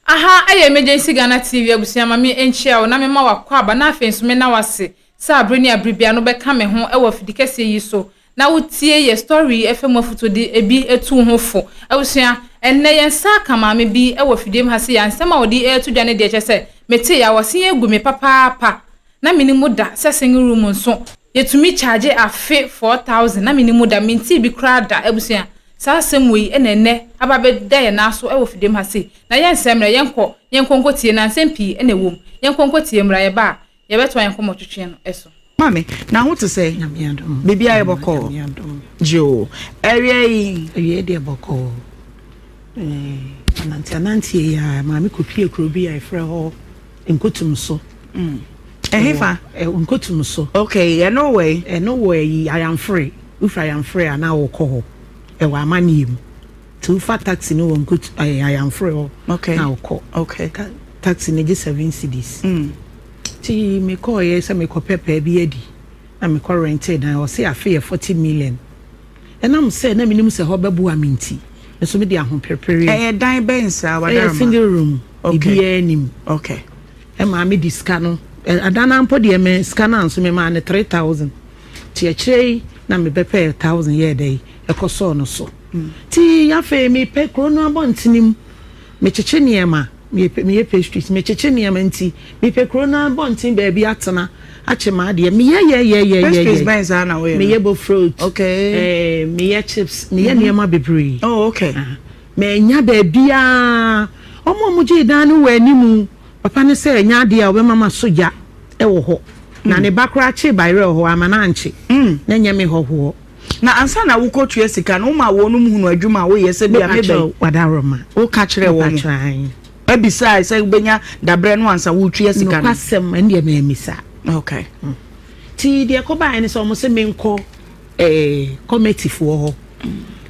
Aha yɛ Emergency Ghana TV abusua ma me nkyia wo na me ma wo akwaaba na afei nso me na wo ase sɛ abere ne abere biara no wo bɛ ka me ho wɔ afidi kɛseɛ yi so na wo tie yɛ story yi fɛ mu afutuo de bi tu wo ho fo abusua ɛnnɛ yɛ nsa aka maame bi wɔ fidiem ha se ya nsɛm a ɔde reto dwa ne deɛ kyɛ sɛ me te ya wɔ se ya gu me papaapa Na menni mu da sɛ singing room nso yɛtumi charge afe four thousand na menni mu da mentee bi koraa da abusua saa asɛm wei na ɛnnɛ aba abɛda yɛn nan so wɔ fidem ha sei na yɛnsɛ mmra yɛnkɔ yɛnkɔ nkɔtie na nsɛm pii na ɛwɔ mu yɛnkɔ nkɔtie mmra yɛba a yɛbɛtoa yɛn nkɔmmɔtwetwe no so. Maame, na ho te sɛn? Biribiara yɛ bɔkɔɔ. Gyoo, Awia yi? Awia yi deɛ bɔkɔɔ. Ɛɛ, ananteananteɛ yi ara, maame kɔpuee kuro bi a yɛfrɛ hɔ Nkotum so. Mm. Ɛhefa? Ɛwɔ nkotum so. Okay, ɛno wɔ yi. Ɛno wɔ yi ayamfore. Wofi ayamfore a na wɔkɔ hɔ. Ɛwɔ amanneɛ mu. Ti wofa taxi no wɔ nkotum ɛyɛ ayamfore hɔ. Okay. Na wɔkɔ. Okay. Ta taxi no gye seven cedis. Mm. Ti mekɔɔ yɛ sɛ mekɔ pɛpɛ bi adi. Na mekɔ rentee dan. Ɔse afe yɛ forty million. Ɛnam sɛ na minim sɛ hɔ bɛboa me nti, me nso mede ahoperepereɛ. Ɛyɛ dan bɛn saa, wadarma? Ɛyɛ single room, biribiara nnim. Okay. Ɛmaa me de sika no, adan no ara mpo deɛ me sika no ara nso memaa no three thousand. Nti akyire yi na mebɛpɛɛ thousand yɛɛ dɛn, ɛkɔsɔɔ no so. Nti afei mepɛ kuro no abɔntene mu, Mekyekye nneɛma, meyɛ meyɛ pastries, mekyekye nneɛma nti mepɛ kuro no abɔnten baabi atena akye m'adeɛ, meyɛ yɛyɛyɛyɛyɛ. Pastries bɛn saa na woyɛ no? Meyɛ bofrot, okay. ɛɛ meyɛ chips, meyɛ nneɛma bebree. Oh okay. Aha, mannya baabiara, wɔn a wɔgyee dan no wɔ anim, papa no sɛ ɛnyɛ adeɛ a ɔbɛma maso gya wɔ hɔ, na ne ba koraa kyee bayerɛ wɔ hɔ, amma no ankye, na ɛnyɛ me hɔhoɔ. Na ansa na wokɔ tua sika no woma wɔnom hunu adwuma a woyɛ sɛ bia mebɛ. Mepakyɛw wadaworoma. Woka kyerɛɛ wɔn. Mepakyɛw ae. Ɛbisae sɛ wobɛnya dabrɛ no ansa woretua sika no. Nokwasɛm ɛndeɛ me ammisa. Ok. Nti deɛ ɛkɔbaeɛ ne sɛ wɔn se menkɔ eh, kɔmɛtifoɔ hɔ.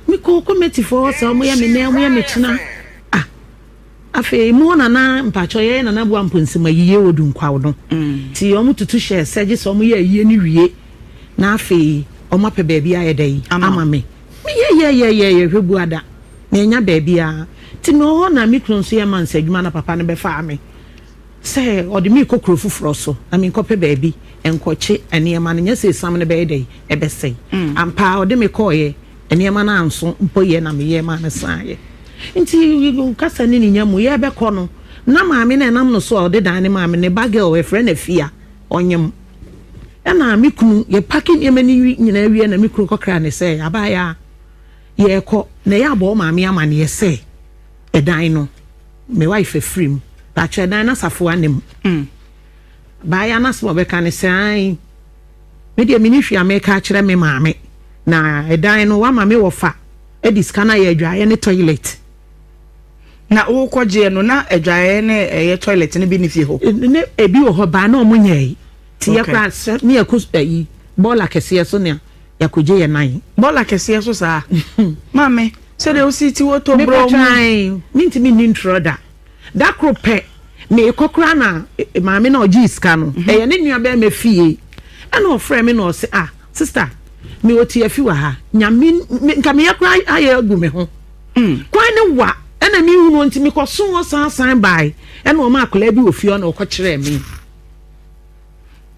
Mekɔɔ kɔmɛtifoɔ hɔ saa wɔyɛ me nnɛ wɔyɛ me kyena. Ah. Afei mo nana mpakyɛw yɛyɛ nana boa mpo nsɛm ayie wɔ du nkwaw no ti wɔn tutu hyɛ sɛ gye sɛ wɔn yɛ ayie no wie na afei wɔn apɛ baabi ayɛ dɛ yi ama me me yɛ yɛ yɛ yɛ yɛ hwɛ bua da me anya baabi a ti me wɔ hɔ na me kunu nso yɛ mansa adwuma na papa no bɛ faa me sɛ ɔde me kɔ kuro foforɔ so na me nkɔ pɛ baabi nkɔ kye nneɛma no nyɛ sɛ esam no bɛyɛ dɛ yi ɛbɛ sɛe ampaa ɔde me kɔɔ yɛ. Nneɛma no anso mpo yɛ na meyɛɛ maa no saeɛ. Nti kasa ne ne nya mu yɛrebɛkɔ no, na maame no a ɛnam no so a ɔde dan no maa me, ne ba girl, yɛfrɛ no Afia, ɔnyem. Ɛna me kunu, yɛpake nneɛma no nyinaa wie na me kunu kɔkraa no sɛ, Abaayaa, yɛrekɔ. Na yɛabɔ wo maame amaneɛ sɛ ɛdan no, me wife afiri mu. Pakyɛ, ɛdan no asafo anim. Abaayaa no asɛm a ɔbɛka ne sɛ, Ae. Me deɛ meni hwee a meka akyerɛ me maame na ɛdan no wama me wɔfa ɛde sika no ayɛ adwaeɛ ne toilet. Na wokɔ gyeɛ no na adwaeɛ ne ɛyɛ toilet no bi ne fie hɔ? Ne ebi wɔ hɔ baa na ɔmo nyɛɛ ti yɛ kora sɛ ne yɛkɔ ɛyi bɔɔla kɛseɛ so na yɛkɔ gye yɛ nan. Bɔɔla kɛseɛ so saa? Maame sɛdeɛ wosi ti wɔ tɔ brɔɔ mu. Meka kyerɛ ae mentumi nni ntorɔ da. Da koro pɛ, merekɔ koraa na maame no a ɔgyee sika no, mhm. ɛyɛ ne nuabarima fie, ɛna ɔfrɛɛ me na ɔse, ah, sista, mewɔ tiafi wɔ ha, nyame, nka meyɛ koraa ayɛ agu me ho. Mm. Kwan ne wa, ɛna mehunu nti mekɔso hɔ san san bae, ɛna ɔma akwadaa bi wɔ fie hɔ na ɔkɔkyerɛɛ me.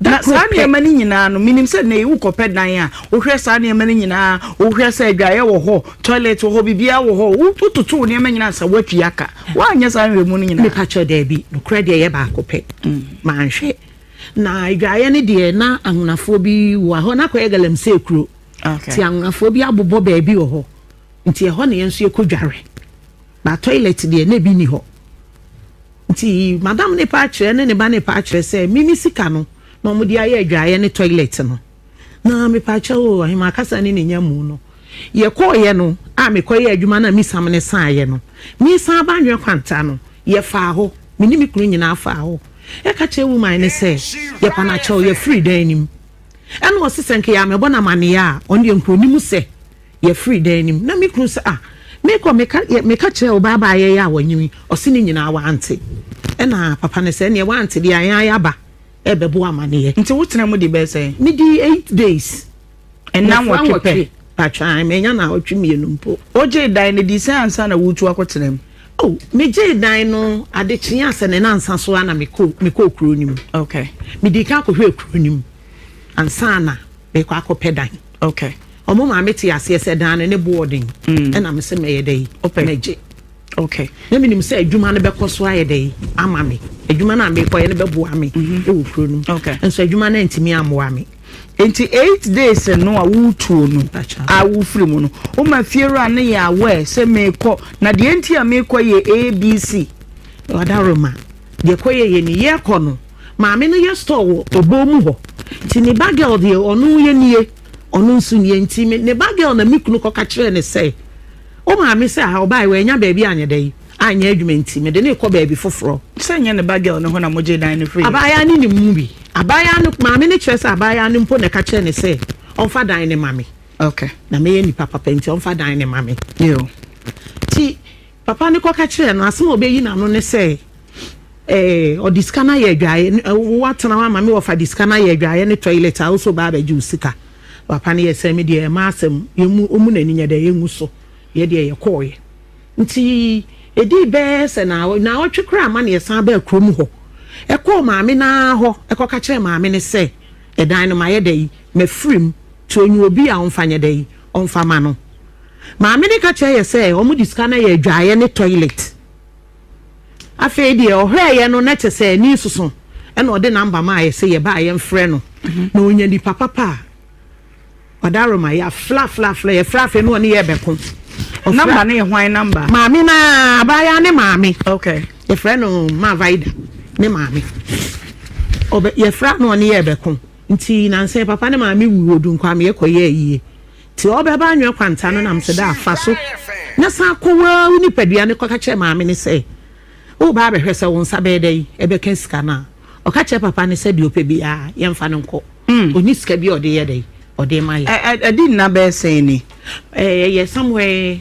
Na saa nneɛma no nyinaa no, menim sɛ nnɛ yi wokɔpɛ dan a, wohwɛ saa nneɛma no nyinaa, wohwɛ sɛ adwaeɛ wɔ hɔ, toilet wɔ hɔ, biribiara wɔ hɔ, wototo wo nneɛma nyinaa ansa woatwi aka. Woanyɛ saa nhwɛmu no nyinaa? Mepa kyɛw, daabi. Nokorɛ deɛ ɛyɛ baako pɛ. Manhwɛ. Na adwaeɛ no deɛ, na anwonafoɔ bi wɔ, ɛhɔ no akɔyɛ galamsey kuro. Nti anwonafoɔ bi abobɔ baabi wɔ hɔ. Nti ɛhɔ na yɛn nso yɛkɔdware. Na toilet deɛ na ebi nni hɔ. Nti madam no paa kyerɛ ne ne ba no paa kyerɛ sɛ me me sika no na wɔde ayɛ adwaeɛ ne toilet no. Na mepaakyɛw o, Ahemaa kasa ne ne nya mu no, yɛkɔeɛ no a mekɔyɛɛ adwuma no a me sam no saeɛ no, meresan aba Anwea Kwanta no, yɛfaa hɔ, me ne me kunu nyinaa faa hɔ. Yɛka kyerɛɛ woman no sɛ, Yɛpanakyɛw, yɛafiri dan no mu. Ɛnna ɔse sɛ nka yɛammɛbɔ no amanneɛ a, ɔno deɛ nka ɔnim sɛ. Yɛfri dan no mu na me kunu se ah mekɔ meka meka kyerɛɛ wo baa baa yɛyɛ a wanyin yi ɔse ne nyinaa wante ɛna papa no se ɛneɛ wante deɛ yɛn ara yɛaba ɛɛbɛbɔ wo amaneɛ. Nti wo tena mu de bɛyɛ sɛn? Me dii eight days. Nna nwɔtwe pɛ? Patwaa manya naawɔtwe mmienu mpo. Wo gyee dan no dii sɛn ansa na woretu akɔ tena mu? Oh me gyee dan no ade kyee ansa ne nansa so ara na me kɔ me kɔɔ kuro no mu. Okay. Me dii kan kɔ hwɛɛ kuro no mu ansa na mekɔ akɔ pɛ dan. Ok ɔmo maame te aseɛ sɛ dan no ne boɔ den ɛna me se mɛyɛ dɛ yi mɛgye ok na me nim sɛ adwuma no bɛkɔ so ayɛ dɛ yi ama me adwuma no a mekɔyɛ no bɛboa me ɛwɔ kuro no mu nso adwuma no antumi ammoa me nti eight days no a wotuo no a wofiri mu no woma fiewura no yɛ aware sɛ mekɔ na deɛ nti a mekɔ yɛ abc ɔda roma deɛ kɔyɛ yɛ ni yɛkɔ no Maame no yɛ store wɔ Oboo mu hɔ nti ne ba girl deɛ ɔno yɛ nie, ɔno nso nie nti me ne ba girl na me kunu kɔka kyerɛɛ ne sɛ wo maame sɛ aha ɔbaeɛ wannya baabi anyɛ dɛ yi anyɛ adwuma nti mede no rekɔ baabi foforɔ. Sɛ nyɛ ne ba girl no hɔ na mogyee dan no firii. Abaayaa no nim mu bi. Abaayaa no maame no kyerɛ sɛ abaayaa no mpo na ɛka kyerɛɛ no sɛ ɔmfa dan no ma me. Okay. Na mɛyɛ nipa papa nti ɔmfa dan no ma me. Yoo. Nti. Papa no kɔka kyerɛɛ no, asɛm a obeyi n'ano ne sɛ, Ɛɛ, ɔde sika no ayɛ adwaeɛ. Woatena hɔ ama me, wɔfa de sika no ayɛ adwaeɛ ne toilet a, wo nso ba abɛgye wo sika. Papa no yɛ sɛ, Me deɛ ɛmma asɛm, yɛmmu, ɔmmu n'ani nyɛ dɛ, yɛngu so. Yɛ deɛ yɛkɔeɛ. Nti ɛdii bɛyɛ sɛ naawa, naawɔtwe koraa ma na yɛsan baa kurom hɔ. Ɛkɔɔ maame no ara hɔ, ɛkɔka kyerɛɛ maame no sɛ, Ɛdan no, mayɛ dɛ yi, mafiri mu, nti ɔnyi obi a ɔmfa nyɛ dɛ yi. Ɔmfa ma no. Maame no ka kyerɛɛ yɛ sɛ ɔmo de sika no ayɛ adwaeɛ ne toilet. Afei deɛ ɔhwɛɛyɛ no na kyɛ sɛ ani soso ɛna ɔde number maa yɛ sɛ yɛ ba a yɛ nfrɛ no na ɔnya nipa papa a ɔdaro ma yɛ afrɛ afrɛ afrɛ yɛ frɛ afei na ɔne yɛ bɛko. Number no yɛ hwan number? Maame no aa abaayaa ne maame. Okay. Yɛ frɛ no Mavaida ne maame. Ɔbɛ yɛ frɛ a na ɔne yɛ bɛko. Nti nansa yi papa ne maame wui wɔ Dunkwame yɛ kɔ yɛɛ yie nti ɔbɛ ba anwɛ kwanta no nam sɛ daa fa so na san kɔ waa wo nipadua ne kɔ ka kyerɛ maame ne sɛ wo ba abɛ hwɛ sɛ wo nsa bɛɛ dɛn ɛbɛ ka sika no a ɔka kyerɛ papa ne sɛ deɛ ɔpɛ biaa yɛn fa no nkɔ ɔni sika bia ɔde yɛ dɛn ɔde ma yɛ. Ɛdi nna bɛɛ sɛn ni? Ɛyɛ somewhere.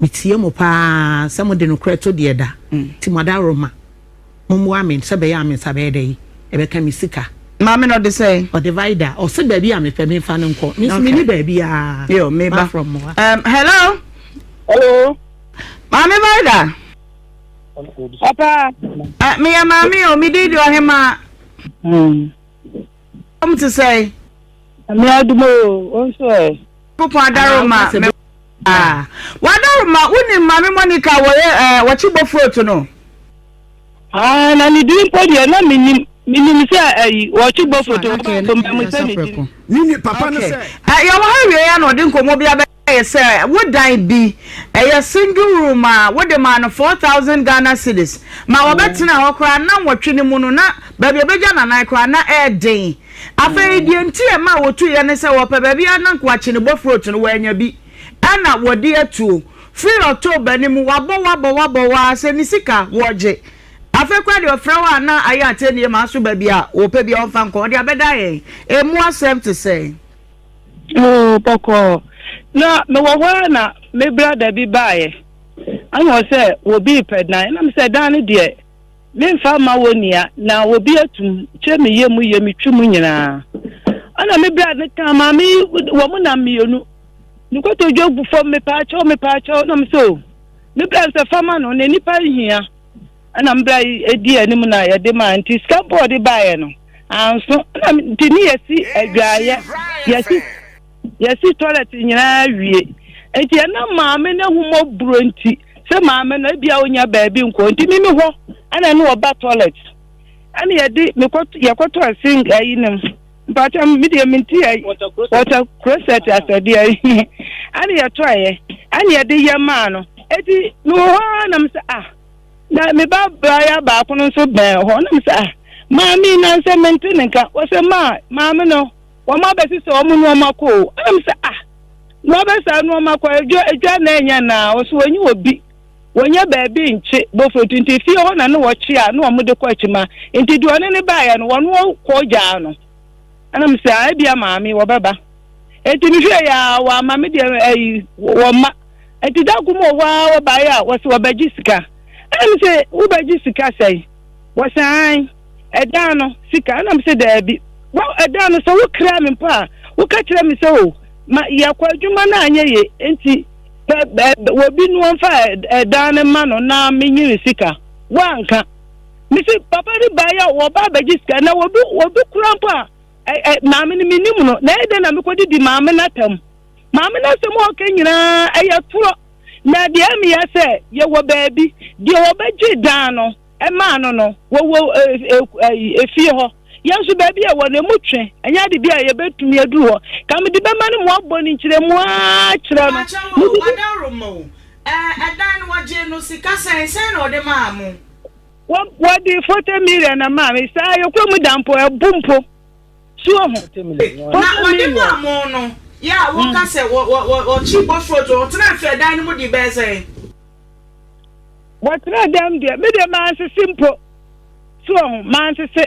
Metie mo paa sɛ mode nokorɛ to deɛ da, nti mo adaworoma. Mommoa me sɛ ɛbɛyɛ a me nsa bɛyɛ dɛn? Ɛbɛka me sika. Maame na ɔde sɛn? Ɔde vida. Ɔse baabi a mepɛ menfa no nkɔ. Me nso menni baabiaa. Yo, me ba. Um, hello? Hello? Maame vida? Papa? Uh, meyɛ maame o, me din de Ɔhemaa. Mm. Wɔn te sɛn? Nyame adom o, wo nso ɛ? Nyankopɔn adaro ma me ah. Wadaro ma wonim Maame Monica wɔyɛ eh, wɔkye bofroot no? Ah, na ne din mpo deɛ na menim. Menim sɛ ayi wɔkye bofroot, wɔbaa kɔmpa mu sɛ ne din. Mini papa no sɛ. Yɛwɔ ha awie a na ɔde nkɔmmɔ bi abɛ. Ayɛ sɛ wo dan bi, ɛyɛ single room a wode maa no four thousand Ghana cedis ma wɔbɛtenaa hɔ koraa nnanwɔtwe no mu no, na baabi a obegya n'anan koraa na ɛyɛ den. Afei deɛ nti a ɛmaa wɔtuiɛ ne sɛ wɔpɛ baabi ara na nka wɔakye ne bofrot no, wɔannya bi na wɔde atuo. Firi October no mu, wabɔ wo abɔ wo abɔ wo ara sɛ ne sika wɔregye. Afei koraa deɛ ɔfrɛ wo a na ayɛ atɛnnie ma aso baabi a wɔpɛ biara ɔmfa nkɔ, ɔde abɛda yɛn. Ɛmu asɛm te sɛn? Oo, bɔkɔɔ. Na mewɔ hɔ ara na me brada bi baeɛ. Ɛna ɔsɛ obi repɛ dan. Ɛna mesɛ dan no deɛ memfa mma wo nea na obi atum kyɛ me yɛ mu yɛ metwi mu nyinaa. Ɛna me brada no kaa maame yi wɔn nam mmienu. Ne kotodwe gu fam mepaakyɛw mepaakyɛw na mesɛ o. Me brada no sɛ fa ma no na nipa nhia. Ɛna mmra yi edii anim na yɛde mae, nti sika mpo a ɔde baeɛ no, anso. Ɛna nti ne yɛsi adwaeɛ, yɛsi, yɛsi toilet nyinaa wie. Nti ɛnam maame no ahummɔborɔ nti, sɛ maame no ebia ɔnya baabi nkɔ, nti me me hɔ ɛna ɛne ɔba toilet. Ɛna yɛde, mekɔ, yɛkɔtɔ ɛse ayi no mu. Mpakyɛ me deɛ menti ayi, wɔtɔ krosɛt asɛdeɛ ayi. Ɛna yɛtɔeɛ, ɛna yɛde yɛ maa no. Eti mewɔ hɔ ara na mesɛ ah. Na me ba baayaa baako no nso bɛn hɔ, na me se, Ah, maame yi na nsɛ mente ne nka. Wɔse, Ma maame no, wɔn abɛsesa wɔn nnoɔma kɔ o. Ɛna me se, Ah, na wɔabɛsa nnoɔma kɔ, adwa, adwa na ɛnyɛ anaa? Wɔse, Wɔnye obi, wɔnnya baabi nkye bofrotu, nti fie hɔ na ne wɔkye a ne wɔde kɔ akyima. Nti deɛ ɔne no baeɛ no, wɔne wɔn kɔ gyaa no. Ɛna me sɛ, ebia maame wɔbɛba. Eti mehwɛ yɛ a wɔama me deɛ ɛyi wɔma. Eti da kum wɔ hɔ a wɔbaeɛ a wɔsɛ wɔbɛgye sika. Ɛna me sɛ wobɛgye sika sɛe? Wɔsɛ an ɛdan no sika. Ɛna me sɛ daabi. Wɔ ɛdan no sɛ wokra me mpo a woka kyerɛ me sɛ o ma yɛkɔ adwuma no anyɛ ye nti wɔbi no wɔmfa ɛdan no ma no na menyini sika. Woanka. mese papa ne baa yɛ wɔba abɛgye sika na wɔdu wɔdu kura mpo a ɛɛ maame no menim no na ɛyɛ dɛ na mekɔde di maame no atam maame no asɛm a ɔka nyinaa ɛyɛ torɔ na deɛ ɛmeya sɛ yɛwɔ baabi deɛ wɔbɛgye dan no ɛmaa no no wɔwɔ efie hɔ yɛn nso baabi a ɛwɔ no emu twe ɛnyɛ ade bi a yɛbɛtumi aduru hɔ ka mede bɛma no mu abɔ ne nkyerɛmu ara kyerɛ no ɛdan no wɔgye no sika sɛn sɛn na ɔde maa mo wɔde forty million na maa me saa yɛkura mu da mpo ɛbu mpo suo ho. na wɔde maa mo no yɛ a woka mm. sɛ wɔkyi bɔforo to wɔtena mfe ɛdan no mu de bɛɛ sɛ. wɔtena dɛm deɛ me deɛ mansese mpo suo ho mansese.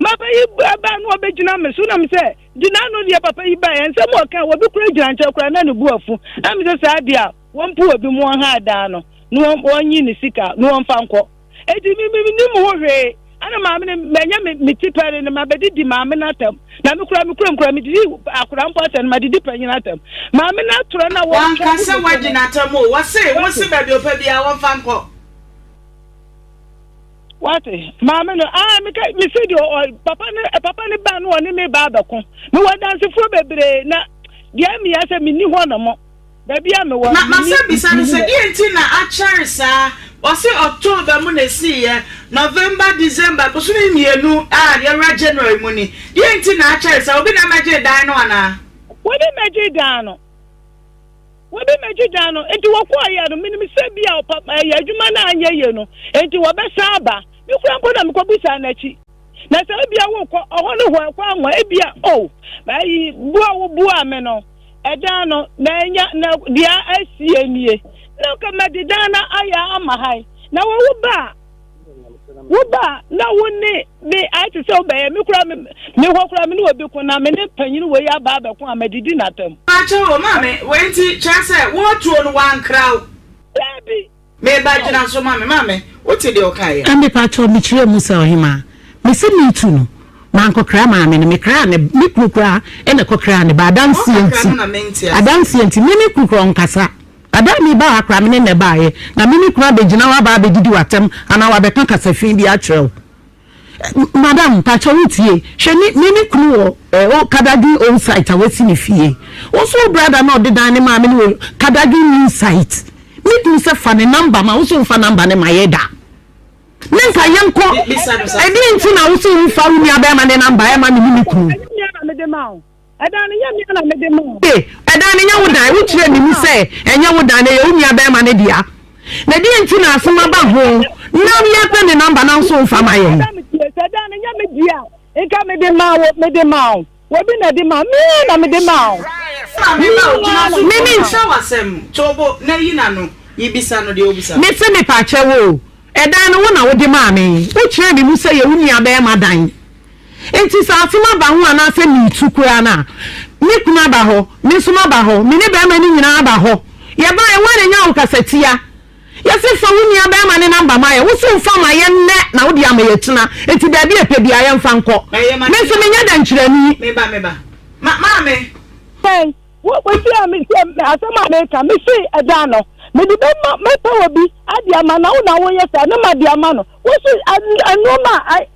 Maame yi baa baa na ɔbɛgyina me so na me sɛ, gyina ano deɛ papa yi baeɛ. Nsɛm a ɔka, obi koraa gyina nkyɛn koraa na ne bo afu. Na me sɛ saa deɛ a, wɔmpo obi mu wɔn ha daa no na wɔnyi ne sika na wɔmfa nkɔ. Enti me me nim ho hwee. Ana maame no manya me me ti pɛre no mabɛdidi maame no atam. Na me koraa me kurom koraa medidi akora mpo atam madidi panyin atam. Maame no atorɔ na wɔtwa wɔnka sɛ wɔagye n'atam o wɔse wɔse baabi ɔpɛ biara wɔmfa nkɔ. Wate, maame no, ah, meka, mese deɛ ɔ, papa no, eh, papa no ba no ɔne me ba abɛko. Mewɔ dansefoɔ bebree na deɛ mmea sɛ menni hɔ no mo. Baabi a mewɔ no, menni, Masa bisa no sɛ, deɛ nti na akyɛre saa? Ɔse October mu na ɛsiiɛ, November, December, bosome mmienu a yɛwura January mu ni. Deɛ nti na akyɛre saa? Obi na ɛmɛgyee dan no anaa? Obi mmɛgyee dan no. Wɔbɛmɛgyidaa no, enti wɔkɔɔ yɛ no. Menim sɛ bia ɔpa ɛyɛ adwuma no anyɛ yie no enti wɔbɛsan aba. Me kura mpo na mekɔ bisaa n'akyi. Na sɛ ebia wokɔ ɔhɔ no hɔ ɛkɔ anwa ebia oh ayi boa wo boa me no ɛdan no na anya na deɛ asie nie na nka mɛde dan no ayɛ ama han na wɔwo baa Wo ba na wo ne me ayɛ te sɛ wobɛyɛ me koraa me me hɔ koraa me ne obi ko na me ne panyin wei aba abɛko a madidi n'atam. Pakyɛw o maame wei nti kyerɛ sɛ wo atuo no wankra wo. Daabi. Me ba Aw. gyina so ma me maame wote deɛ ɔkaeɛ a. Me pakyɛw me kyerɛ mu sɛ ɔhemaa me se me tu no mankɔ kra maame no me kraa ne me kunu koraa na ɛkɔ kraa ne ba adanseɛ nti adanseɛ nti me ne kunu koraa ɔnkasa. Ada a mereba ha koraa, me ne Neh baeɛ, na me ne kunu abɛgyina hɔ aba abɛdidi w'atɛm anaa wabɛka kasa fi bi akyerɛ wo. Eh, madam, mpakyɛ wotie, hwɛ me, me ne kunu wɔ eh, oh, Kadadwin Old Site a wasi ne fie. Wo nso wo brada na ɔde dan ne maa me no wɔ Kadadwin New Site. Me kunu sɛ fa ne namba ma, wo nso mfa namba ne ma yɛ da. Ne mfa yɛnkɔ, ɛdeɛ nti na wo sɛ wo mfa wo nua bɛrima ne namba ɛma me ne me kunu? Ɛnyɛ me nua na mede ma wo. Ɛdan no nyɛ me ara na mede maa no. Ee, ɛdan no nyɛ wo dan. Wokyerɛɛ me mu sɛ ɛnyɛ wo dan, na ɛyɛ wo nuabarima no dea. Na deɛn nti na asɛm aba ho na yɛrepɛ ne namba nanso womfa ma yɛn? Madam tie, sɛ ɛdan no nyɛ me dea a, nka mede maa wo, mede maa wo. Obi na ɛde maa me ara na mede maa wo. Me ara na mede maa wo. Mese mepaakyɛw o, ɛdan no wo na wode maa me. Wokyerɛɛ me mu sɛ ɛyɛ wo nuabarima dan. Enti sɛ asɛm aba ho anaasɛ meretu koraa no a, me kunu aba hɔ, me nso maba hɔ, me ne barima no nyinaa aba hɔ. Yɛbaeɛ, wo a na nya wo kasatia. Yɛse fa wo nua barima no namba ma yɛn, wo se mfa ma yɛn nnɛ na wode ama yɛn akyina, enti baabi a ɛpɛ biara yɛmfa nkɔ. Me nso menyɛ dɛnkyerɛni. Bɛn, wotie a metie asɛm a meka, mese ɛdan no, mede bɛma, mɛpɛ obi de ama, na wo na woyɛ saa, na made ama no. Wose nnoɔma a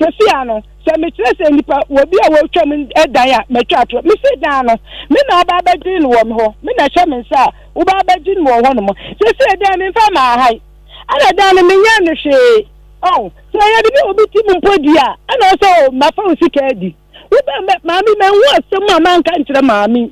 Sɛsi ara no, sɛ mekyerɛ sɛ nnipa wɔ bi a wɔretwam dan a matwa atorɔ. Mese dan no, me na wobaa bɛdwene no wɔ me hɔ, me na ɛhyɛ me nsa a wobaa bɛdwene me wɔ hɔnom. Seesei dan memfa mmaa ha yi, ɛna dan no menyɛɛ no hwee. Ɔho, sɛ ɛyɛ de ne obi tim mpo di a, ɛna ɔsɛ o, mafa wo sika adi. Wobɛn maame, manhu asɛm a manka nkyerɛ maame.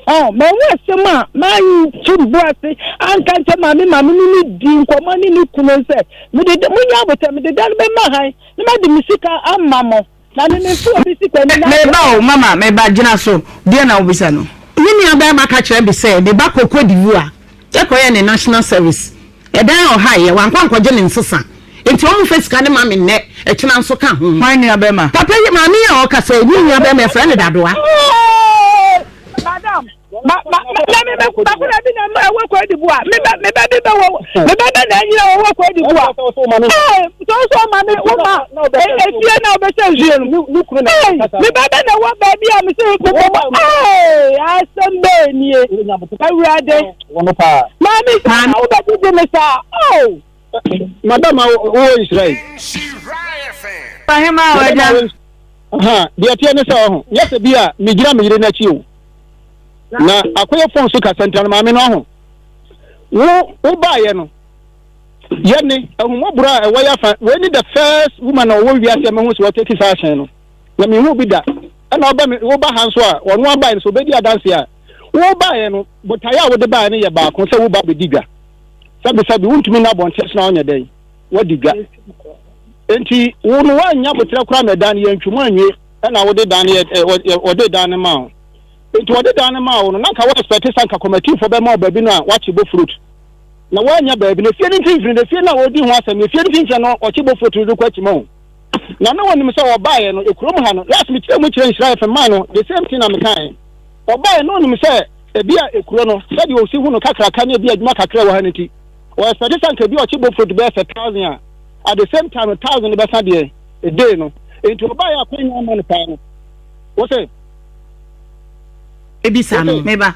Ɔ mɛwɔ asɛm a m'ayi to ne bo ase anka nkyɛ maame maame ne ne di nkɔmmɔ ne ne kunu nsɛ mede de monyɛ abotɛ mede da no bɛma han ne mɛde me sika ama mo na ne memfe obi sika ni na meba o mama meba gyina so deɛ na wobisa no. Me nua barima ka kyerɛ me sɛ ne ba kɔkɔ di wura Yɛkɔyɛ ne national service ɛdan ɔha yɛ wankɔ ankɔgye ne nsesa nti ɔmo fɛ sika no ma me nnɛ ɛkyena nso ka ho. Hwan nua bɛɛma? Papa yi maame yi a ɔkasa yi ne nua bɛɛma yɛfrɛ no Dadoa. Madam ma ma ma me me ba kuna bi na ɛwɔ kɔ edibu a me ba me ba bi bɛ wɔ me ba bɛ na ɛnyina wɔ kɔ edibu a. sɛ sɛ ɔma me woma efie na ɔbɛsɛ nsuo no me ba bɛ na ɛwɔ baabi a me sɛ mekɔbɔ asɛm bɛɛ nie awurade maame saa na wobɛgyegye me saa o madam wowɔ nhyira yi deɛ teɛ ne sɛ ɔho yɛ sɛ bi a megyina me yere no akyi o na akɔyɛ fon so kasɛntra no maame no ɔho wo wobaeɛ no Yɛ ne ahummɔborɔ a ɛwɔ yɛafa. Wei ne the first woman a ɔwɔ wiase a mahu sɛ ɔtake saa action no. Na menhuu bi da. Ɛna ɔba me woba ha nso a ɔno abae no sɛ ɔbɛdi adanseɛ a wobaeɛ no botaeɛ a wode baeɛ no yɛ baako sɛ woba bɛdi dwa. Sɛbesɛbe wontumi nna abɔnten so na wonyɛ dɛn wadi dwa. Enti wo no woannya aboterɛ koraa ma ɛdan no yɛntwi mu anwie ɛna wode dan no ɔde dan no maa wo. Enti ɔde dan no maa wo no na nka wo expect sɛ nka kɔmatifoɔ bɛma wo baabi no a wakye bɔ fruit. na wannya baabi, na fie no mfimfini de fie no a ɔredi ho asɛm no, fie no mfimfini no ɔkye bɔfoɔ tiri no kɔ akyima o. Na na wɔnim sɛ ɔbaeɛ no, kurom ha no, last mekyerɛ mu kyerɛ nhyira fm maa no, the same thing na mekaeɛ. Ɔbaeɛ na ɔnim sɛ ebi a kuro no, sɛdeɛ ɔsi hu no kakraka ne ebi a adwuma kakra wɔ ha no nti, ɔ expect sɛ anka ebi a ɔkye bɔfoɔ bɛyɛ sɛ thousand a, at the same time no thousand no bɛsa deɛ day no. Nti ɔbaeɛ a kwan nyinaa ma no paa no. Wo se? Ebisa no, meba.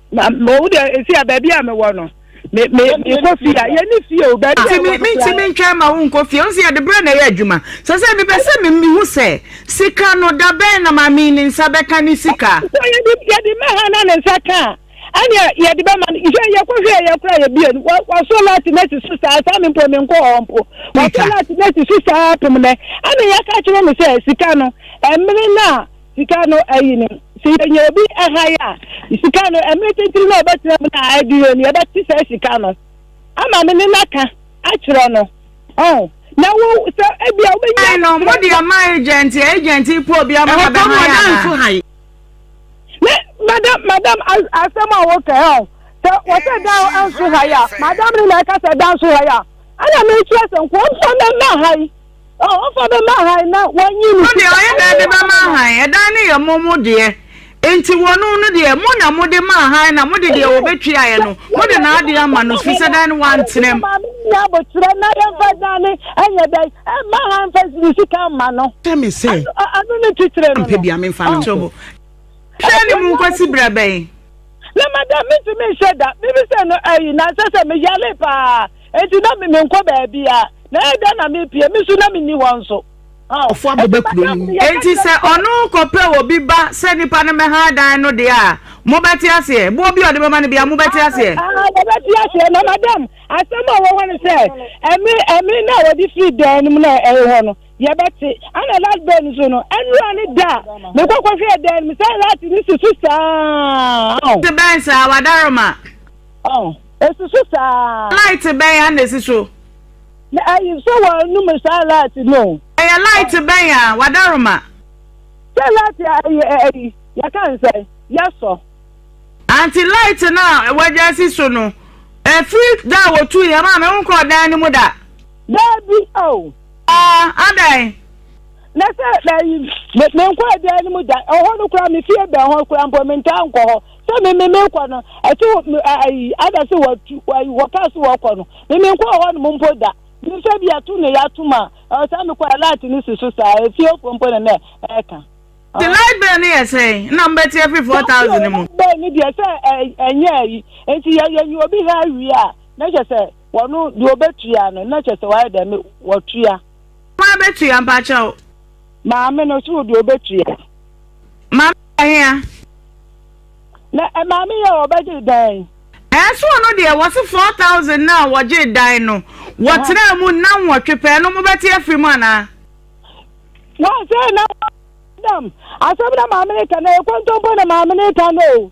na mɛ wo deɛ esi a baabi a mewɔ no me me mekɔ fie a yɛne fie o baabi a wɔn ti mi ntwɛn ma wo nkɔ fie nso yɛde brɛ na ɛyɛ adwuma sɛ sɛ mepɛ sɛ me mehu sɛ sika no da bɛn na maame ne nsa bɛka ne sika. sɛ yɛde yɛde mɛ ha na ne nsa ka a ɛnna yɛde bɛ ma no yɛ yɛkɔ hwɛ yɛ kora yɛ bie no wɔso laati na ti so saa saa mi mpo mi nkɔ hɔ mpo wɔso laati na ti so saa pem nɛ ɛnna yɛka kyerɛ no sɛ sika no ɛmene na. Sika no ayi no. Sɛ yɛnya obi hann a, sika no, mmere titiriw na ɔbɛtena mu na adi hɔ ni, yɛbɛte saa sika no ama no ne n'aka akyerɛ no. Ɔn? Na wo sɛ ebia wobɛnya. Hann no, mode ama agent, agent pɛ obi ama no abɛhann anaa? Me, madam, madam, asɛm a woka ɛ, ɔn? Sɛ wɔsɛ dan nso hann a, madam no na ɛka sɛ dan nso hann a, ɛna mekyerɛ sɛ nkurɔfoɔ mmɛma hann. Ɔ, ɔfa bɛma hann na wɔanyi no. No deɛ ɔyɛ dɛn de bɛma hann? Ɛdan no yɛ mo mo deɛ. Enti wɔnom no deɛ, mo na mode maa hann na mode deɛ wɔbɛtuaeɛ no, mode n'adeɛ ama no, ɛfiri sɛ dan no wantenam. Maame no nyɛ aboterɛ na yɛmfa dan no ɛnyɛ dɛn? Ɛmma hann mfa ne sika mma no. Kyɛ me sɛ. Ano ne titire no no. Mpɛ bia memfa no nkɔ. Hwɛ ne mu nkɔsi berɛ bɛn? Na madam metumi nhyɛ da. Mebisɛ no ayi, na sɛ sɛ meyale paa. enti na me menkɔ baabiara, na ɛyɛ dɛn na merepue, me nso na menni hɔ nso. Ɔfo abɛba kuro no mu. Enti sɛ ɔno rekɔpɛ obi ba sɛ nipa no mmɛha dan no deɛ a, mobɛte aseɛ? Boɔ bi a ɔde bɛma no biara, mobɛte aseɛ? Wɔbɛte aseɛ, na madam, asɛm a ɔwɔ hɔ no sɛ, ɛme ɛme na wɔde firi dan no mu na ɛyɛ hɔ no, yɛbɛte. Ɛna last bɛn nso no, ɛnura ne da a mekɔkɔhwɛɛ dan no mu sɛ lati no si so saa. Te bɛn saa, wadaroma. Esi so saa. Light bɛn a na esi so? Na ɛyɛ sɛ wɔanum saa light no. Ɛyɛ light bɛn a wɔadaroma? Sɛ light a ɛyɛ ɛyi, yɛka no sɛ yɛsɔ. Anti light no a wɔagya asi so no, ɛfiri da a wɔtuu yɛn maa me wonkɔɔ dan no mu da? Daabi o. Aa, adɛn? Na sɛ ɛyi, menkɔɔ dan no mu da, ɛhɔ no koraa, me fie bɛn hɔ koraa mpo, mentaa nkɔ hɔ. sɛ me me menkɔ no ɛte ayi ada sɛ watu ayi wɔkaa sɛ wɔkɔ no me menkɔ hɔ nom mpo da mehwɛ bi ato ne yɛatom a ɔsaa mekɔ alert no si so saa efiefoɔ mpo ne nɛ ɛka The light bill ni yɛ sɛn na mbɛti afiri four thousand mu. bɛɛ ni deɛ sɛ ɛnyɛ ayi nti yɛ yɛ nyi obi ha awie a na kyɛ sɛ wɔn deɛ ɔbɛtua no na kyɛ sɛ wɔayɛ dɛm wɔtua. wɔn abɛtua mpakyɛw. Maame no so deɛ ɔbɛtua. Maame yɛ hea? Na eh, maame yɛ ɔbɛgye dan. Ɛso ɔno deɛ wɔse four thousand na wɔgye dan no wɔtena mu na nwɔtwe pɛɛ no mobɛte afiri mu anaa? Wɔse na dam asɛm na maame no ka na ɛkɔntɔmpo na maame no ka no o.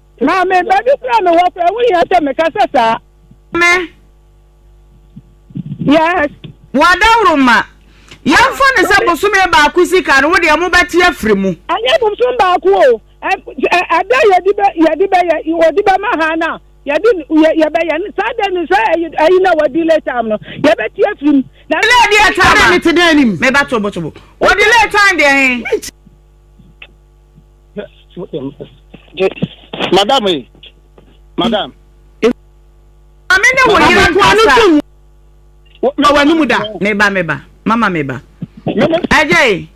Maame, baabi kura mi wɔ kura, wohia sɛ meka sɛ saa. Me. Yes. Wɔadaworo ma. Yɛmfa no sɛ bosome baako sika no, wo deɛ mobɛte afiri mu. Ɛnyɛ bosom baako o. Ɛda yɛde bɛ yɛde bɛ yɛ wɔde bɛ ma ha na yɛde yɛbɛyɛ no saa dɛ no sɛ ɛyi na wɔde late time no yɛbɛte afiri mu. Na ɛyɛ deɛ time a. Ɛna ne te dɛ anim. Meba tobotobo. Wɔde late time deɛ he. madam e madam. maame ne wo yere nkasa na w'ani mu da. meba meba mama meba ɛgya yi.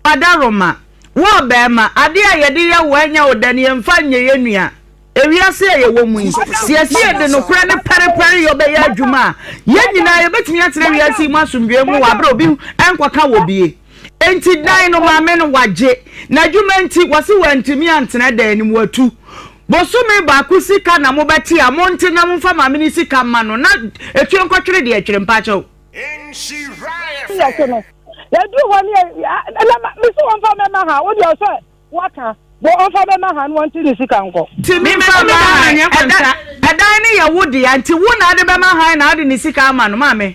wadaroma wo ɔbɛrima ade a yɛde yɛ wo ɛnyɛ wo dɛ ne yɛmfa nyɛ yɛ nua ewiase a yɛwɔ mu yi siesie de nokorɛ ne pɛrepɛre yɛ ɔbɛyɛ adwuma a yɛn nyinaa yɛbɛtumi akyerɛ wiase mu asomdwoe mu wɔ abere obi nkɔka wɔ bie. Enti dan no maame no wagye. N'adwuma nti, wɔse wantumi antena dan no mu, watu. Bosome baako sika na mobɛte a, monte na momfa maame no sika mma no na ɛtwe nkɔtwere deɛ ɛtwere mpakyɛw. Yɛte no, yɛduru hɔ ne yɛ, mese wɔmfa mɛma ha, wodeɛ ɔsɛ waka, bɔ ɔmfa mɛma ha no wɔnte ne sika nkɔ. Ti mi mfa mma han, ɛdan no yɛ wo dea, nti wo na ade bɛma han na ade ne sika ama no, maame.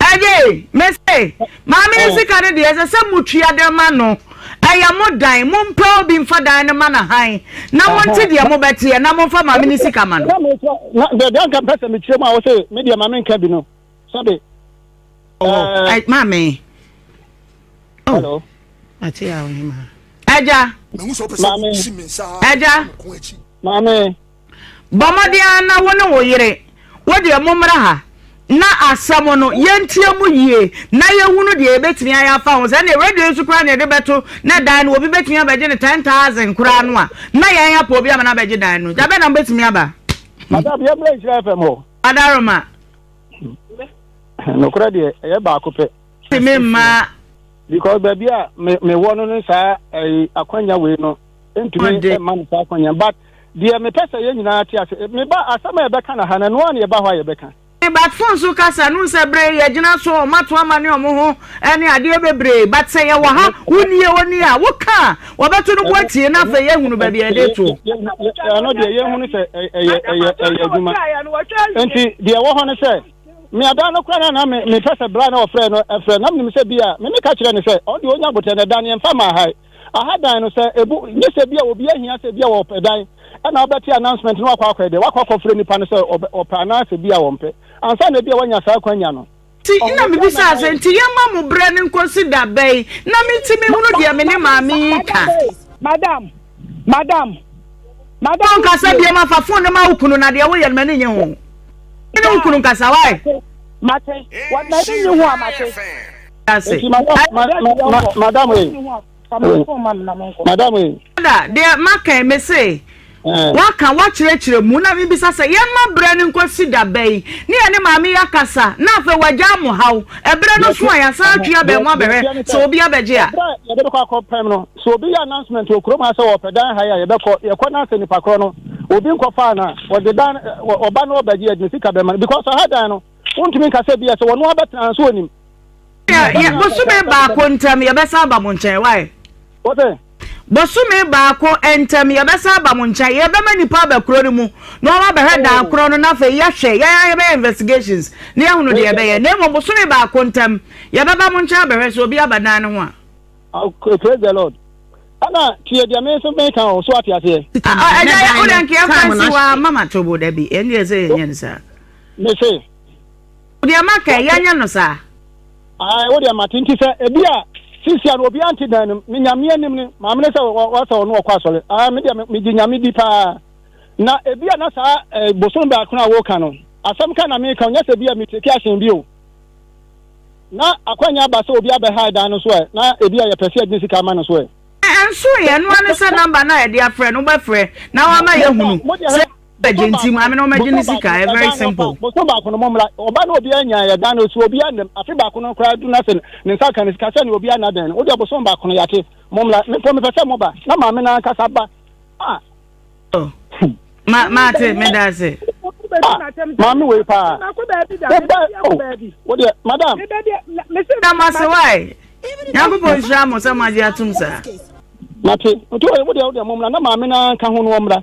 Ɛyɛ me se maame no sika no deɛ ɛsɛ sɛ motua de ma no ɛyɛ mo dan mompɛ obi mfa dan no ma no han na monte deɛ mobɛteɛ na momfa maame no sika ma no. deɛ anka mpɛ sɛ mekyerɛ mu a wo se me deɛ maame nka bi no sɛbe maame hello ate a wohema agya maame agya maame Bɔ mmɔden ara na wo ne wo yere, wo deɛ mommra ha na asɛm no yɛntie mu yie na yɛhunu deɛ yɛbɛtumi ayɛ afa ho. Sɛ ɛneɛ radio nso koraa na yɛde bɛto na dan no obi bɛtumi abɛgye ne 10,000 koraa no a, na yɛn apɔ obi ama no abɛgye dan no. Dabɛ na mobɛtumi aba. Madam, yɛmmra nhyira FM hɔ. Adaroma. Nokorɛ deɛ, ɛyɛ baako pɛ. Tumi mmaa. Because baabi a mewɔ no no saa eh, akwanya wei no ntumi mma no saa kwan yɛn but deɛ mepɛ sɛ yɛn nyinaa te ase meba asɛm a yɛbɛka na ha na ɛnoa na yɛba hɔ a yɛbɛka. but phone so kasa no sɛ bere yɛgyina so wɔn ato ama ne wɔn ho ɛne adeɛ bebree but sɛ yɛwɔ ha wonie oni a woka a wɔbɛto no bo atie na afei yɛhunu baabi a yɛde to. ɛno deɛ yɛhunu sɛ ɛyɛ ɛyɛ ɛyɛ adwuma nti deɛ ɛwɔ hɔ no sɛ meada no kora no na mepɛ sɛ bra na ɔfrɛ no ɛfrɛ na menim sɛ bi a meme ka kyerɛ ne sɛ ɔde ɔnya abotɛ no ɛda ne ɛmfa ma ha Aha dan no sɛ ebu nye sɛ bi a obi ahia sɛ bi a ɔpɛ dan ɛna ɔbɛte announcement na wakɔ akɔɛ dɛ wakɔ akɔfrɛ nipa no sɛ ɔpɛ anaa sɛ bi a ɔmpɛ ansa na bi a wanya saa akwanya no. Nti na mebisaa sɛ nti yɛmma mo berɛ no nkɔsi da bɛn na mentumi nhunu deɛ me ne maame yi reka. Madam! Madam! Madam! Wonkasa biom a fa phone no ma wo kunu na deɛ woyɛ no m'ani nye ho. Wone wo kunu nkasa why? Mate. M'ani nye ho a mate. ase. madam ee madam ee. da deɛ maka me se eh. waka wakyerɛkyerɛ mu na mebisa sɛ yɛma berɛ no nkɔsi da bɛyi ne yɛ ne maame yɛ akasa na afei wagya mo haw ɛberɛ no so a yɛasan atwe abɛn ho abɛhwɛ sɛ obi abɛgye a yɛde bɛkɔ akɔ pɛm no sɛ obi yɛ announcement wɔ kurom ha sɛ wɔpɛ dan ha yi a yɛbɛkɔ yɛkɔ no asɛ nipa korɔ no obi nkɔfaa no a wɔde dan ɔba no ɔbɛgye yɛde ne sika bɛma no because ɔha dan no wontumi nka sɛ bi a sɛ wɔno abɛtena nso onim bosome baako ntam yɛbɛsan aba mo nkyɛn wae bosome baako ntam yɛbɛsan aba mo nkyɛn yɛbɛma nipa aba kuro no mu na wɔn abɛhwɛ dan oh. korɔ no na afei yɛhwɛ yɛn yɛbɛyɛ investigations na yɛhunu deɛ yɛbɛyɛ na mmom bosome baako ntam yɛbɛba mo nkyɛn abɛhwɛ sɛ obi aba dan no ho a. okay praise the lord ɛna tiɛ deɛ mi nso mi kan o so ate aseɛ. ɛnna yɛ o de nkeɛ fɛn si wa mama tobo dabi ɛnna yɛ sɛ yɛ nyɛ ne sa. ne se. Wo deɛ ma kɛ, yɛnyɛ no saa. Ae, wo deɛ ma te, nti sɛ ebi a, sisia no obiara nte dan no mu, ne Nyame anim no, maame no sɛ wɔsɛ ɔno ɔkɔ asɔre, ae, me deɛ me gye Nyame di paa. Na ebi a na saa eh, bosom baako a woka no, asɛm ka na meka, ɔnyɛ sɛ bi a me take action bi o. Na akwanya aba sɛ obi abɛhae dan no so ɛ, na ebi a yɛpɛ sɛ yɛde ne sika ama no so ɛ. Ɛnso yɛ, ɛno ara ne sɛ number no a yɛde afrɛ no, wobɛfrɛ na wama yɛahunu sɛ. ɛgye nti maame na ɔmɛgye ne sika ɛ very simple. bosome baako no mo mmra ɔba na obi anya yɛ dan no so obi anam afe baako no koraa du na sɛ ne nsa ka ne sika sɛ ne obi ana dan no wode bosome baako no yɛate mo mmra mepɔ mepɛ sɛ moba na maame no ankasa ba a oh. ma ma te me da ase maame wei paa woba o wodeɛ madam na ma se wae nyankopɔn nhyira mo sɛ moagye atom saa mate nti wodeɛ wodeɛ mo mmra na maame no anka ho no ɔmmra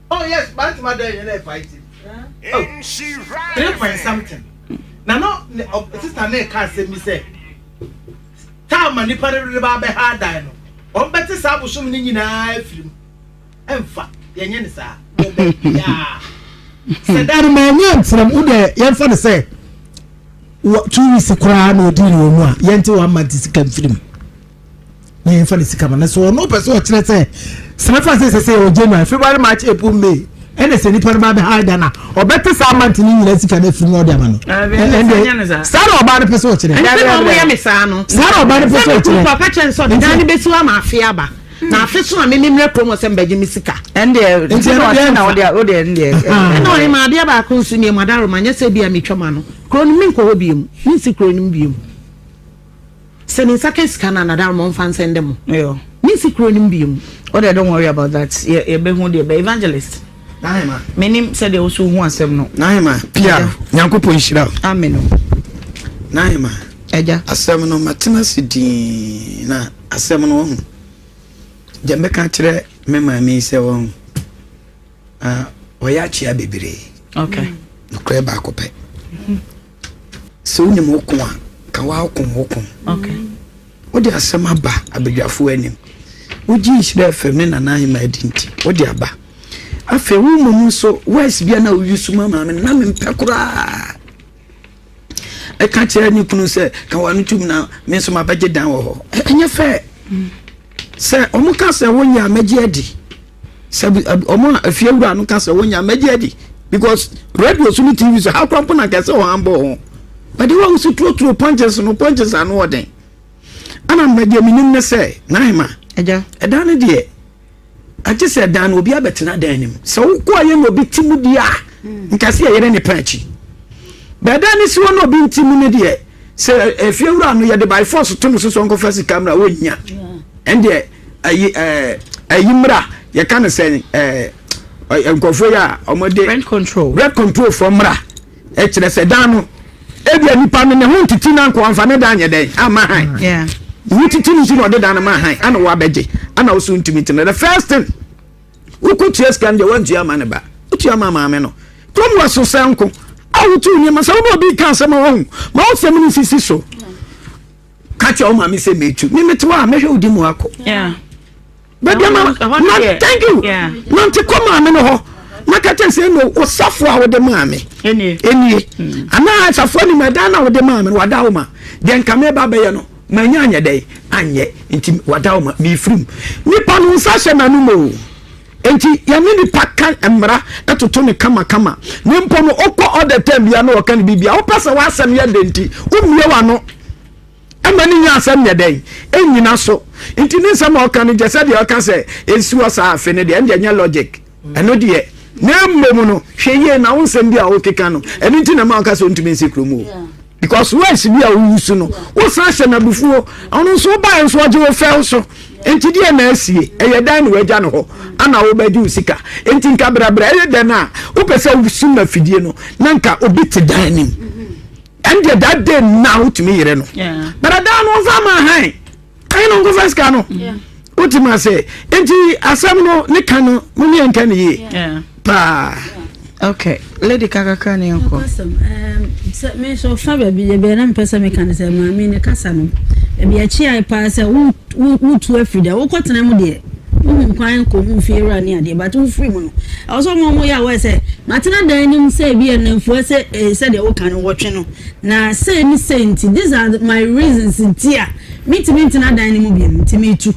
Oh yes banti ma dɛn yɛ na ɛfa iti. Oh three point something na no sista ne ka asɛm bi sɛ taa ma nipa no de ba abɛha adan no wɔn bɛte saa abosom no nyinaa afiri mu ɛnfa yɛnyɛ ne saa bɛbiaa sɛ da no ma ɛnyɛ ntiram wo dɛ yɛmfa no sɛ two weeks koraa na ɔdii ne wɔ mu a yɛnte wɔn ama nte sika mfiri mu na yɛn fa ne sika ma na sɛ ɔno pɛ sɛ ɔkyerɛ sɛ sinafa sɛ sɛ sɛ ɛwɔ january february march april may ɛna sɛ nipa no ba bɛ ha da na ɔbɛte saa mante ne nyina sika no afiri na ɔde ama no ɛnde saa na ɔbaa no pɛ sɛ ɔkyerɛ saa na ɔbaa no pɛ sɛ ɔkyerɛ papa kyɛ nsɛ ɔde dan no bɛsi wa ma afe aba na afe so a me ne mmerɛ kurom sɛ mbɛgye me sika ɛndeɛ nti na ɔkyɛ na ɔde ɔde ɛndeɛ ɛna ɔyɛ ma adeɛ baako nso nneɛma adaroma nyɛ sɛ bi a metwa ma no kuro no menkɔ hɔ biom mensi kuro no biom Sɛ ne nsa ka sika no a nadar ma ɔmfa nsɛ ndɛ mo. Yo. Me nsi kuro no mu bio mu. Wo deɛ don't worry about that yɛ yɛ bɛ hu deɛ bɛ evangelist. Nahema. Me nim sɛ deɛ woso hu asɛm no. Nahema pia nyankopɔ nhyira wo. Amen o. Nahema. Agya. Asɛm no ma tena se dii na asɛm no wahu deɛ mbɛka kyerɛ me maame yi sɛ wahu ah ɔyɛ akyea bebree. Okay. Nokorɛ baako pɛ. Sɛ wonim wo ko a, ka woako wo ko. Wode asɛm aba abadwafoɔ anim. Wogye nhyira fam ne Nana Ahima adi nti, wode aba. Afei wo mmom nso, wes bia na woyi so ma maame na mempɛ koraa. Ɛka kyerɛ ne kunu sɛ, ka w'ano tom na me nso mabɛgye dan wɔ hɔ. Ɛnyɛ fɛ. Sɛ wɔn ka sɛ wɔnyɛ a mɛgye adi sɛ wɔn a afie wura no ka sɛ wɔnyɛ a mɛgye adi because radio so ne tv so ha kora mpo na nka sɛ wɔn abɔ ho bɛde wɔn ahosuo turotuo pɔnkyense no pɔnkyense ano wɔ den ɛna na deɛ menim ne sɛ n'ahema ɛdan no deɛ agye sɛ dan no obi abɛtena dan no mu sɛ wokɔ ayɛ na obi te mu deɛ a nkasi yɛ yere ne pɛ akyi bɛda ne siwɔ na obi nti mu ne deɛ sɛ efie wura no yɛde by force to no so so nkɔfa sika mmra wɔnnya ɛndeɛ ayi ɛɛ ayi mmra yɛka no sɛ ɛɛ nkurɔfoɔ yi a wɔde rent control rent control fɔ mmra ɛkyerɛ sɛ dan no ebia nipa no ne ho ntete na nko anfa ne dan nyɛ dɛn ama han ne tete ne nti na ɔde dan no ma han ana wɔabɛgye ana ɔso ntumi tena the first thing Wokotua sika no deɛ wantua ama ne ba, wotua ama maame no. Kurom hɔ so sɛ nko a wotu nneɛma sɛ wobɛ obi ka asɛm a wahu ma wosɛm no sisi so. Ka kyerɛ wo maame sɛ metu me mete hɔ a mɛhwɛ wodi mu akɔ. Baabi ama na thank you nante kɔ maame no hɔ na ka kyerɛ sɛ no osafo a wode maame ɛnie anaa asafo anim ɛdan no a wode maame no wada wo ma deɛ nka meba bɛyɛ no Manya anyɛ dɛn anyɛ nti wada wo ma mefiri mu. Nipa no nsa hyɛ m'anom o. Nti yɛne nipa ka mmara toto no kamakama. Ne mpo no wokɔ all the time biara na wɔka no biribi a wopɛ sɛ w'asɛm yɛ dɛ nti wommie w'ano ma ne nya asɛm nyɛ dɛn nnyina so. Nti ne nsɛm a ɔka no gyɛ sɛ deɛ ɔka sɛ ɛnsi hɔ saa afe no deɛ ɛndeɛ nyɛ logic. Ɛno deɛ, na mmom no, hwɛ yie na wo nsɛm bi a wokeka no, ɛno nti na ɛma woka sɛ wontumi nsi kurom o. Because words bi a wowu so no, wosan hyɛ no abufuo. Ɔno nso wobaeɛ nso ɔgye wo fɛw so. Nti deɛ na asie, ɛyɛ dan na wagya no hɔ, ana wobɛgye wo sika. Nti nka brɛbrɛ, ɛyɛ dɛn a wopɛ sɛ wosum afidie no, na nka obi te dan anim. Ɛndeɛ that day na wotumi yere no. Brɛdaa no ɔmfa ma hann. kan no nkɔfa sika no wotim ase nti asɛm no ne ka no mo ne yɛnka ne yie paa okay lady kakakra ne yɛnkɔ sɛ me nso fa baabi yɛbɛɛ na mepɛ sɛ meka no sɛ maame ne kasa no baabi akyiae paa sɛ wotu afiri dɛ wokɔtena mu deɛ wohu nkwan nkɔ mu mfie wura ne adeɛ but wofiri mu no ɛwɔ sɛ ɔma ɔmo yɛ awɔ sɛ matena dan anim sɛ bi yɛ nnamfua sɛ sɛdeɛ woka no wɔtwe no Na sei ne sei nti, these are my reasons nti a mentumi ntena dan no mu bio, nti meretu.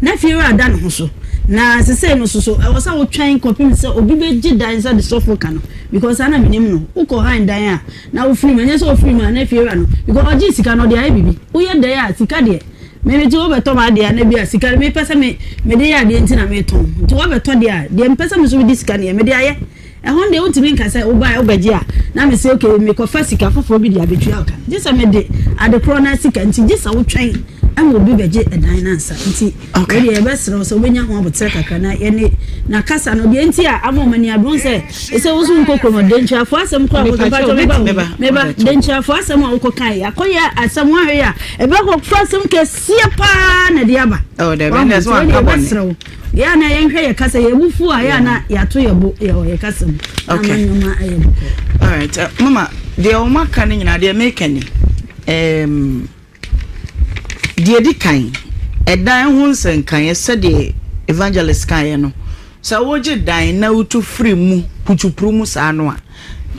Na fiewura da ne ho so. Na sesei no soso, ɛwɔ sɛ wotwɛn kɔpem sɛ obi bɛgye dan sɛ de sɔfo ka no, because saa na menim no. Wokɔ hann dan a, na wofiri mu, ɛnyɛ sɛ wofiri mu a na fiewura no, because ɔgyee sika no, ɔde ayɛ biribi. Woyɛ dɛn a, sika deɛ, me mete wobɛtɔ m'adeɛ a, na bi a sika no mepɛ sɛ me, mede yɛ adeɛ nti na meretɔn. Nti wobɛtɔ deɛ a, deɛ mepɛ sɛ me nso mede sika no yɛ, mede ayɛ. Ɛhɔ no deɛ wontumi nka sɛ wobaeɛ wobɛgye a na mese ok mekɔfa sika foforɔ bi de abɛtua wo ka no gye sɛ mede ade korɔ no ara sika nti gye sɛ wotwɛn ma obi bɛgye dan no ansa nti wei deɛ yɛbɛserɛ wo sɛ wobɛnya ho aboterɛ kakra na yɛne na kasa no deɛ nti a ama ɔmani abere wo sɛ ɛsɛ wo so wokɔ kurom denkyiafoɔ asɛm korɔ a wokɔ mpakyɛ meba wo meba denkyiafoɔ asɛm a wokɔ kae akɔyɛ asɛm woanhwɛ yɛ a ɛbɛkɔ fa asɛm kɛseɛ paa na ɛde aba wɔn nti wei deɛ yɛbɛserɛ wo Yɛ a na yɛnhwɛ yɛ kasa yɛ mu fu a yɛ a na yɛato yɛ bo yɛ yɛ kasa mu na ama nneɛma ayɛ bɔkɔ. Alright, uh, mama deɛ wɔn aka no nyinaa deɛ meka ni um, deɛ di kan ɛdan ho nsɛnkaeɛ sɛdeɛ evangelist kaeɛ no sɛ wogye dan na wotu firi mu putupuru mu saa no a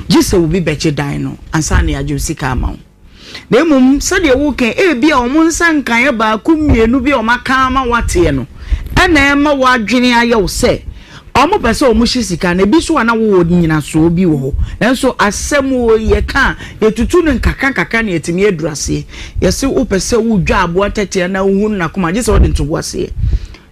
gye sɛ obi bɛgye dan no ansa na yɛagye sika ama wo na mmom sɛdeɛ woka yi, ebia wɔn nsa nkaeɛ baako mmienu bi a wɔaka ama woateɛ no na ɛma w'adwene ayɛ wo sɛ wɔpɛ sɛ wɔhye sika no. Ebi nso a na wowɔ nnyinasoɔ bi wɔ hɔ, nanso asɛm o, yɛka a, yɛtutu no nkakra nkakra na yɛatumi aduru aseɛ. Yɛse wopɛ sɛ wodwa aboa tɛtɛ anaa wohunu n'akoma a, gye sɛ wode ntoboaseɛ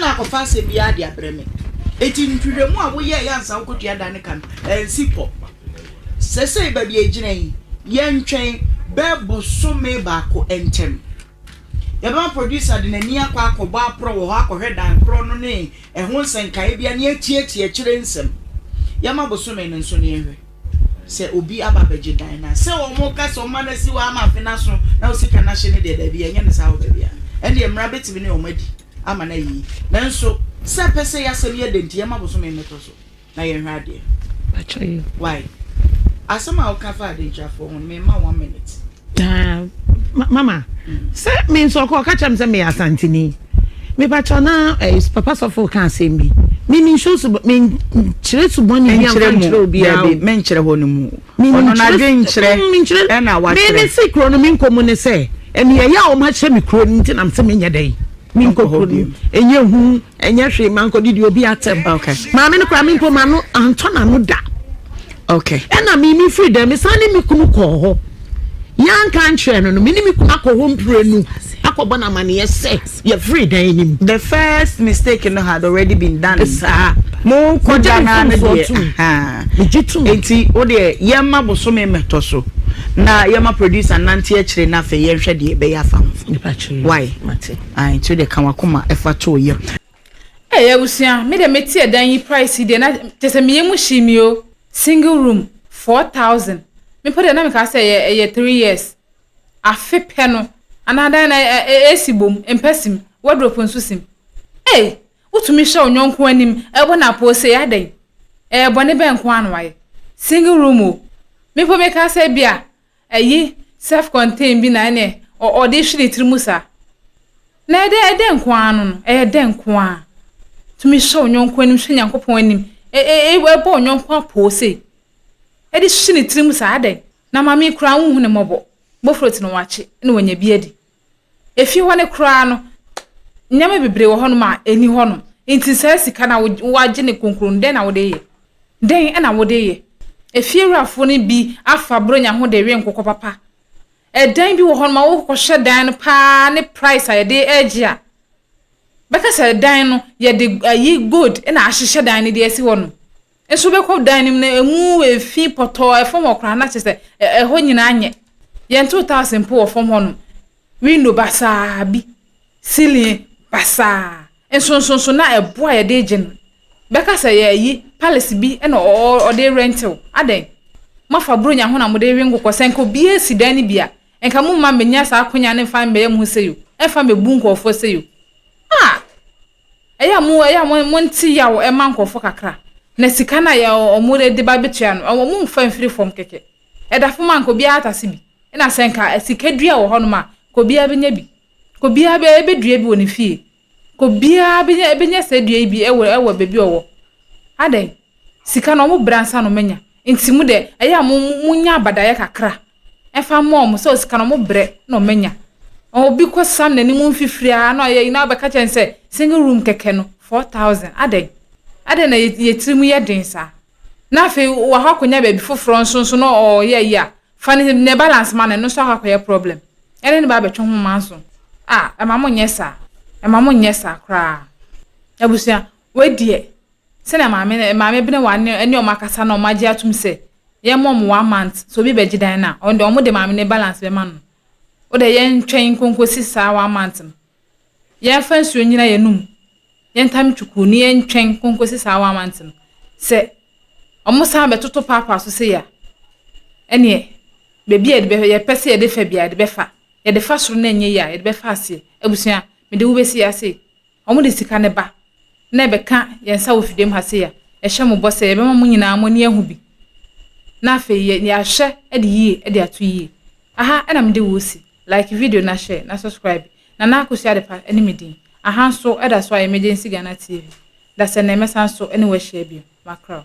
na akɔfa asɛm biara de abrɛ me. Enti nhwehwɛmu a woyɛe ansa wokotua da no ka no, ansi kɔ. Seesei baabi a egyina yi, yɛntwɛn bɛyɛ bosome baako ntam. Yɛbɛma producer de n'ani akɔ akɔbɔ aprɔ wɔ hɔ akɔhwɛ dan korɔ no ne ɛho nsɛnkaebea ne atiatia akyire nsɛm. Yɛmma bosome no nso na yɛnhwɛ. Sɛ obi aba abɛgye dan no a, sɛ wɔka sɛ ɔmma no asi hɔ ama afe no aso na wo sika no ahye no deɛ, daabi, yɛnyɛ no saa wɔ baabi a. Ɛndeɛ, mmara bɛtumi ne wɔn adi ama no ayɛ yie. Nanso, sɛ pɛsɛe asɛm yɛ dɛ nti, yɛmma bosome mmɛtɔ so na yɛnhwɛ adeɛ. Wai, asɛm a woka faa adentwafoɔ ho no, memma one minute. Taa ma mama sɛ me nso ɔkɔ ɔka kyerɛ me sɛ meyɛ asanteni mepakyɛ na eh, papa sɔfo ka asɛm bi mimi nhyɛ so menkyerɛ su bɔne bi amfa nkyerɛ obiara o menkyerɛ hɔ no mu ɔno no adwe nkyerɛ ɛna wakyerɛ me si kuro no me nkɔ mu ne sɛ ɛne ɛyɛ a wɔn ahyɛ me kuro no nti nam sɛ menyɛ dɛn menkɔ kuro no ɛnyɛ hu Ɛnyɛ hwee mankɔ didi obi atɛm. Okay. Maame no koraa me mpo m'ano antɔ n'ano da. Okay. Ɛna me me firi dɛm me san ne me kunu kɔɔ hɔ. Yɛanka ankyerɛ no no me ne me kunu akɔ hɔ mprenu akɔbɔ no amaneɛ sɛ yɛfiri dan anim. The first mistake no had already been done. Saa. Mo kɔ da na ne deɛ. Megye tum. Enti wo deɛ yɛma bosome mmɛtɔ so na yɛma producer nante akyire na afei yɛnhwɛ deɛ ɛbɛyɛ afa ho. Why? Mate. Ae kyerɛ deɛ ka wakoma fa to yam. Eii abusua me deɛ mete ɛdan yi price yi deɛ na kyɛsɛ me yɛmu hyee me oo single room four thousand me mpo deɛ na meka sɛ ɛyɛ ɛyɛ three years afe pɛ no anaa dan na AC bom mpɛ sim wardrobe nso sim eii wotumi hyɛ wo nyɔnko anim ɛbɔ no apoo sei adɛn ɛɛ bɔne bɛn nkoaa na wayɛ single room oo me mpo meka sɛ bia Ayi self contain bi na ɛne ɔde hwe ne tiri mu saa na ɛdɛ ɛdɛ nko ara no no ɛyɛ dɛ nko ara tumi hyɛ onyɔnko anim hyɛ nyankopɔn anim ɛbɔ onyɔnko apoo sei ɛde hwe ne tiri mu saa adɛn na mame kura wohu ne mmɔbɔ bofrot no wakye na wanya bi adi Efie hɔ no koraa no, nneɛma bebree wɔ hɔnom a ɛni hɔnom. Nti saa sika no a woagye no kronkron no, dɛn na wode yɛ? Dɛn na wode yɛ? Efiewurafoɔ no bi afa Buronya ho de we nkokɔ papa. Ɛdan bi wɔ hɔnom a wokɔhwɛ dan no paa ne price a yɛde regye a, bɛka sɛ dan no yɛde ayi gold na ahyehyɛ dan no de asi hɔnom. Nso wobɛkɔ dan no mu na ɛmu ɛfi pɔtɔɔ ɛfam hɔ koraa na kyerɛ sɛ ɛhɔ nyinaa nyɛ yɛntoo tiles mpo wɔ fam hɔnom window basaa bi ceiling basaa nsonsonso na ɛboɔ a yɛde gye no bɛka sɛ yɛyi palace bi na ɔde rɛntew adɛn moafa buronya ho na mode rewe nkokɔ sɛ nka obiara si dan no bi a nka mo mma mmɛnya saa akonya no mfa mmɛyɛ mo ho sɛ yo ɛmfa mmɛbu nkurɔfoɔ sɛ yo ah Ɛyɛ a mo ɛyɛ a mo monte yaw ɛma nkurɔfo kakra na sika no a yɛ wɔn de ba betua no ɛwɔ mo mfa mfiri fam kɛkɛ. Ɛda fam a nka obiara atase bi. Ɛna sɛ nka sika dua wɔ hɔnom a nka obiara benya bi. Nka obiara bɛ bɛdua bi wɔ ne fie. Nka obiara benya benya saa dua yi bi ɛwɔ ɛwɔ baabi a ɔwɔ. Adɛn? Sika no wɔn brɛ ansa na wɔn anya. Nti mo deɛ ɛyɛ a mo mo monya abadaeɛ kakra ɛfa mma wɔn sɛ sika no wɔbrɛ na wɔanya. Obi kɔsam n'anim mfifiri ara na ɔyɛ ayi na wɔbɛka kyerɛ no sɛ single room kɛkɛ no, four thousand. Adɛn? Adɛn na yɛn tirim yɛ den saa? Na afei wakɔ akɔnya baabi foforɔ nso nso na ɔreyɛ ayi a, fa ne ne balance ma no, ɛno nso akɔ akɔyɛ problem. Ɛne ne ba abɛtwe ho ma nso. Ah, ɛma mo nyɛ saa. Ɛma mo nyɛ saa koraa. Abusua, wei deɛ, sɛnea maame maame bene wɔn ano ne wɔn akasa na wɔn agye atom sɛ yɛn mɔ mo one month sɛ obi bɛgye dan no a ɔno deɛ wɔn de maame no balance bɛma no wo deɛ yɛn twɛn nko nkosi saa one month no yɛn fa nsuo nyina yɛn anum yɛn tam twuku ne yɛn twɛn nko nkosi saa one month no sɛ wɔn san bɛtoto paapaa so sɛ ya ɛneɛ baabi a yɛde bɛ yɛpɛ sɛ yɛde fa bia yɛde bɛfa yɛde fa soro na ɛnyɛ yie a yɛde bɛfa aseɛ abusua mede wo bɛsi ase Wɔn de sika no ba na ɛbɛka yɛn nsa wɔ fidiem ha sei a, yɛhyɛ mo bɔ sɛ yɛbɛma mo nyinaa mo ani ahu bi, na afei yɛ yɛahwɛ de yie de ato yie. Aha na mede wo resi. Like video na share na subscribe. Nana Akosua Adepa ne me din. Aha nso da so a Emergency Ghana TV. Dasɛnnɛ mɛsan so ne wo ahyia bio. Makra o.